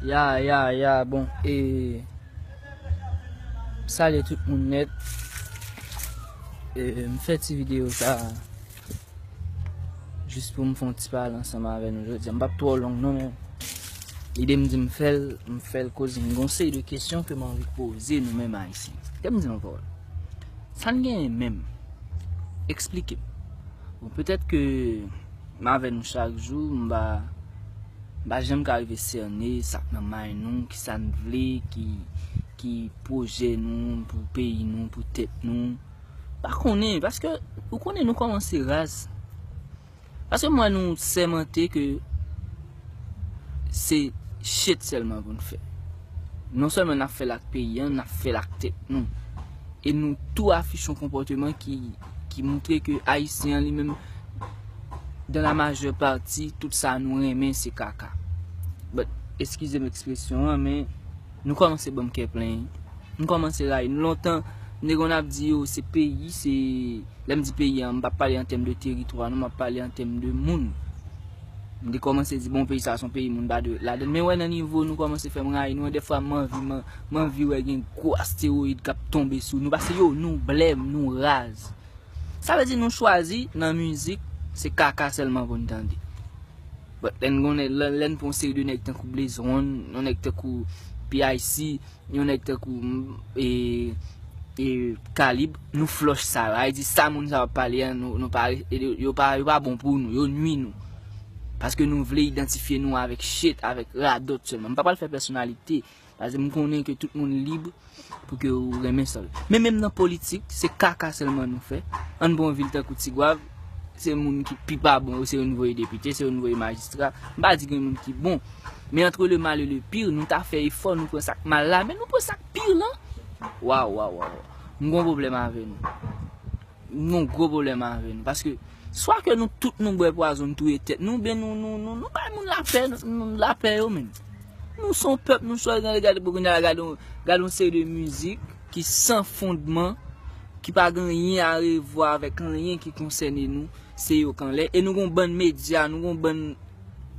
Ya ya ya bon e Salye tout moun net E m fè ti video sa Jis pou m fon ti pale ansanm avè nou jodi a M pap twò long non men Lide m di m fè l M fè l koz m gon seri de kesyon ke m anvi poze nou menm ayisyen Kèm di nou pawòl Sa n genyen menm Eksplike m Bon petèt ke M avè nou chak jou, m pa m pa janm ka rive sène sa k nan may nou, ki sa n vle, ki ki pwojè nou pou peyi nou, pou tèt nou. M pa konnen, paske ou konnen nou kòmanse raz. Paske m wè nou sèmante ke se chet sèlman pou n fè. Non sèlman n ap fè l ak peyi an, n ap fè l ak tèt nou. E nou tou afiche yon konpòteman ki. ki moutre ke Ayisyen an li menm, dan la majè pati, tout sa nou renmen se kaka. But, eskize m ekspresyon an, men, nou kòmanse banm kè plen. M kòmanse rayi nou. Lontan, m te konn ap di yo, se peyi, se, lè m di peyi an, m pa pale an tèm de teritwa non, m ap pale an tèm de moun. M te kòmanse di, bon, peyi sa a se yon peyi moun pa dwe ladann. Men wè nan nivo nou kòmanse fè m rayi nou an, dèfwa m anvi m. M anvi wè gen gwo asteroid kap tonbe sou nou pase yo nou blèm nou raz sa vle di nou chwazi nan mizik se kaka sèlman poun tande but lè nou gon lèn pran yon seri de nèg tankou blaze one yon nèg tankou PIC yon nèg tankou ee kalib nou flòch sa yo avle di sa moun sa yo ap pale an nou pa yo pa bon pou nou yo nwi nou paske nou vle idantifye nou avèk shit avèk radòt sèlman m pa pral fè pèsonalite. Paske m konnen ke tout moun lib pou ke ou renmen sa ou vle. Men menm nan politik, se kaka sèlman nou fè. An pran yon vil tankou Tigwav, se moun ki pi pa bon yo se yo nou voye depite, se yo nou voye majistra. M pa di gen moun ki bon. Men antre le mal et le pire, nou ta fè efò nou pran sak mal la, men nou pran sak pire lan. Waw waw waw waw. M gon pwoblèm avè nou. Nou gen yon gwo pwoblèm avè nou. Paske, swa ke nou tout nou bwè pwazon nou touye tèt nou, oubyen nou, nou, nou, nou bay moun lapè, nou, lapè yo menm. Nou se yon pèp, nou swa gen, gade pou kounye a, gade yon, gade yon seri de mizik ki san fondman, ki pa gen anyen a revwa avèk anyen ki konsène nou, se yo kanlè. E nou gen yon bann medya, nou gen yon bann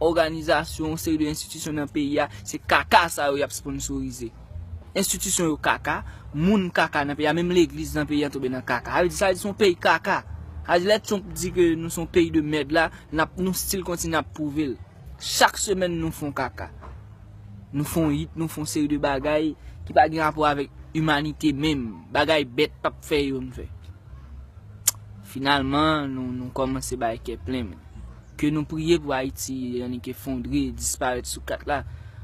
òganizasyon, yon seri de enstitisyon nan peyi a, se kaka sa yo y ap sponsorize. Institution yo kaka, moun kaka nan peyi a, menm legliz nan peyi an tonbe nan kaka. Sa vle di sa vle di se yon peyi kaka. Sa vle di lè Trump di ke nou se yon peyi de mèd la, nap nou stil kontinye ap pwouve l. Chak semèn nou fon kaka. Nou fon hit, nou fon seri de bagay ki pa gen rapò avèk imanite menm. Bagay bèt pap fè yo nou fè. Finalman nou kòmanse bay kè plen menm. ke nou priye pou Ayiti annik efondre, disparèt sou kat la.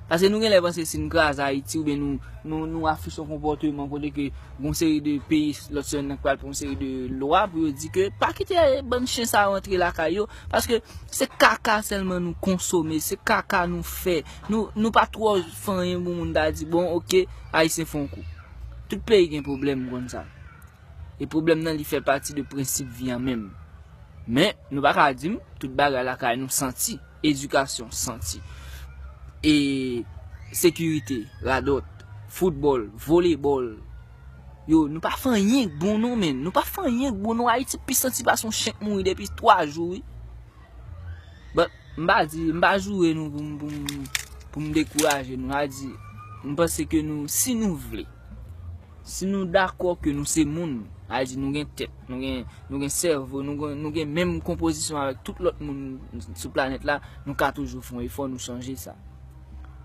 Pase nou genlè panse si nou kraze Ayiti oubyen nou nou afiche yon konpòteman kote ke gon seri de peyi lòt sè nan k pral pran yon seri de lwa pou yo di ke pa kite bann chen sa yo antre lakay yo paske se kaka sèlman nou konsome, se kaka nou fè. Nou nou pa twò fanyen pou moun ta di bon ok Ayisyen fè yon kou. Tout peyi gen pwoblèm m konn sa. e pwoblèm nan li fè pati de prensip vi an menm. Men, nou pa ka di m, tout bagay lakay nou santi, edikasyon santi, e sekirite, radòt, foutbòl, volebòl, yo, nou pa fè anyen k bon non menn, nou pa fè anyen k bon non, Ayiti pi santi pase yon chen k mouri depi 3 jou wi. Bon, m pa di, m pa joure nou pou m, pou m, pou m dekouraje nou, m pa di, m panse ke nou, si nou vle. Si nou dakò ke nou se moun, sa vle di nou gen tèt, nou gen sèvo, nou gen menm konpozisyon avèk tout lòt moun sou planèt la, nou ka toujou fè yon efò nou chanje sa.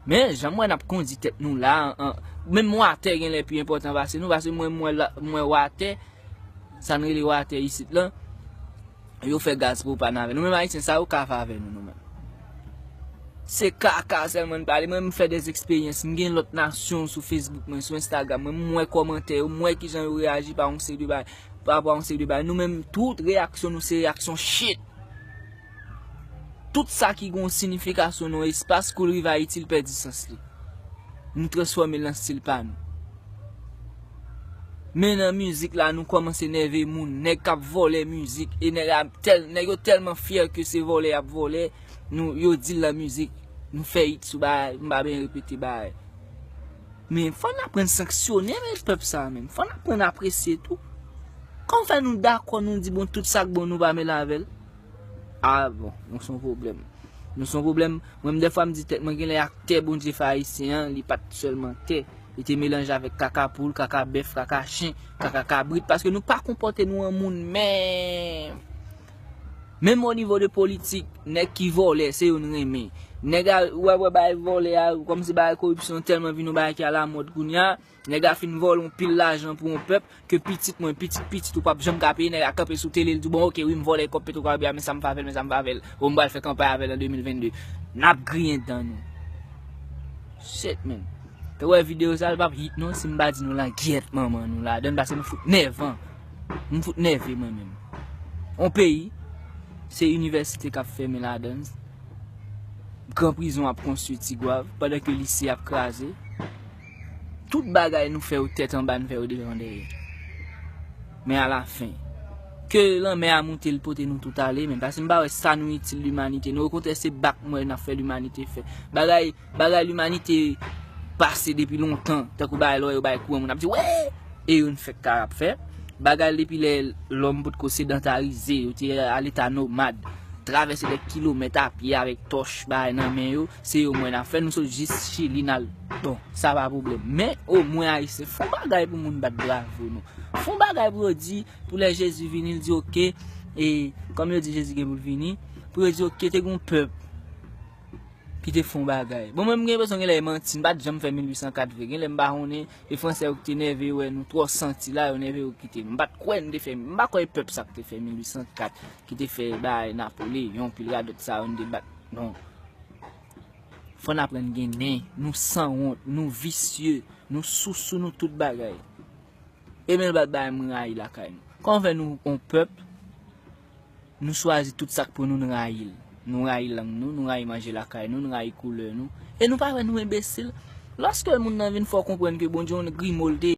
Men, jan m wè n ap kondi tèt nou la a, menm watè genlè pi enpòtan pase nou, paske mwen wè watè, sa n rele watè isit lan, Yo fè gaz pou pa nan avè nou menm ayisyen sa yo ka fè avè nou nou menm se kaka sèlman n pale mwen m fè dè eksperyans m gen lòt nasyon sou facebook mwen sou instagram mwen m wè kòmantè yo m wè kijan yo reyaji pa yon seri de bagay pa rapò a yon seri de bagay nou menm tout reyaksyon nou se reyaksyon shit tout sa ki gen yon sinifikasyon nan yon espas kou l rive ayiti l pèdi sans li nou transfòme l nan stil pa nou Men nan mizik la nou kòmanse nève moun, nèg kap vòlè mizik e nèg la tèl nèg yo tèlman fyè ke se vòlè yap vòlè nou yo dil nan mizik nou fè it sou bagay m pa byen repete bagay men fò n aprann sanksyone menm pèp sa menm fò n aprann apresye tou kòm fè nou dakò nou di bon tout sak bon nou pa mele avèl. Ah bon, nou son pwoblèm. Nou son pwoblèm, mwen menm dèfwa m di tèt mwen genlè ak tè Bondye fè Ayisyen an li pa t sèlman tè, li te melanje avèk kaka poul, kaka bèf, kaka chen, kaka kabrit paske nou pa konpòte nou an moun menm. Menm o nivo de politik, nèg ki vòlè se yo n renmen. Nèg a, ou ap wè bagay vòlè a, kòmsi bagay koripsyon tèlman vin yon bagay ki alamòd kounya. Nèg la fin vòlè yon pil lajan pou yon pèp ke pitit mwen, pitit pitit ou pap janm ka peye, nèg la kanpe sou tele li di bon ok wi m vòlè kòb petrokaraibè a men sa m fè avèl men sa m fè avèl oh m pral fè kanpay avèl an 2022 nap griyen dan nou shit man te wè video sa li pap hit non si m pa di nou langyèt manman nou ladann paske nou fout nèvan m fout nève mwen menm yon peyi se inivèsite kap fèmen ladann gran prizon ap konstwi tigwav pandan ke lise ap kraze. Tout bagay nou fè yo tèt anba n fè yo devan dèyè. Men a la fen. Ke lanmè a moute l pote nou tout ale men pase m pa wè sa nou itil limanite non okontrè se bak m wè n ap fè limanite fè. Bagay bagay limanite pase depi lontan tankou bagay lè w wè yo bay kou an moun ap di wè e yo n fèk ka ap fè. Bagay l depi lè lòm pot ko sedantarize yo te a leta nomad travèse dè kilomèt a pye avèk tòch bagay nan men yo Se yo mwen afè nou sot jis chili nal bon sa pa problem men o mwen ayisyen fon bagay pou moun bat bravo nou fon bagay pou yo di pou lè jezi vini l di ok e kom yo di jezi gen pou l vini pou yo di ok te gon pèp ki te fon bagay bon mwen mgen peson gen lè e manti m pat janm fè 1804 vre gen lè m pa konnen e fransè yo ki te nève yo wè nou tro santi la yo nève yo kite m pat kwen de fè m pa kwen e pèp sa ki te fè 1804. ki te fè bay Napoli yon pil radot sa yo nou te bat non fò n aprann gen nen nou sanwont nou visye nou sousou nou tout bagay e menm lòt bagay m rayi lakay nou kòman fè nou yon pèp nou chwazi tout sa k pou nou n rayi l nou rayi lang nou nou rayi manje lakay nou nou rayi koulè nou e nou pa wè nou enbesil lòske moun nan vin fè w konprann ke Bondye yon grimo l te.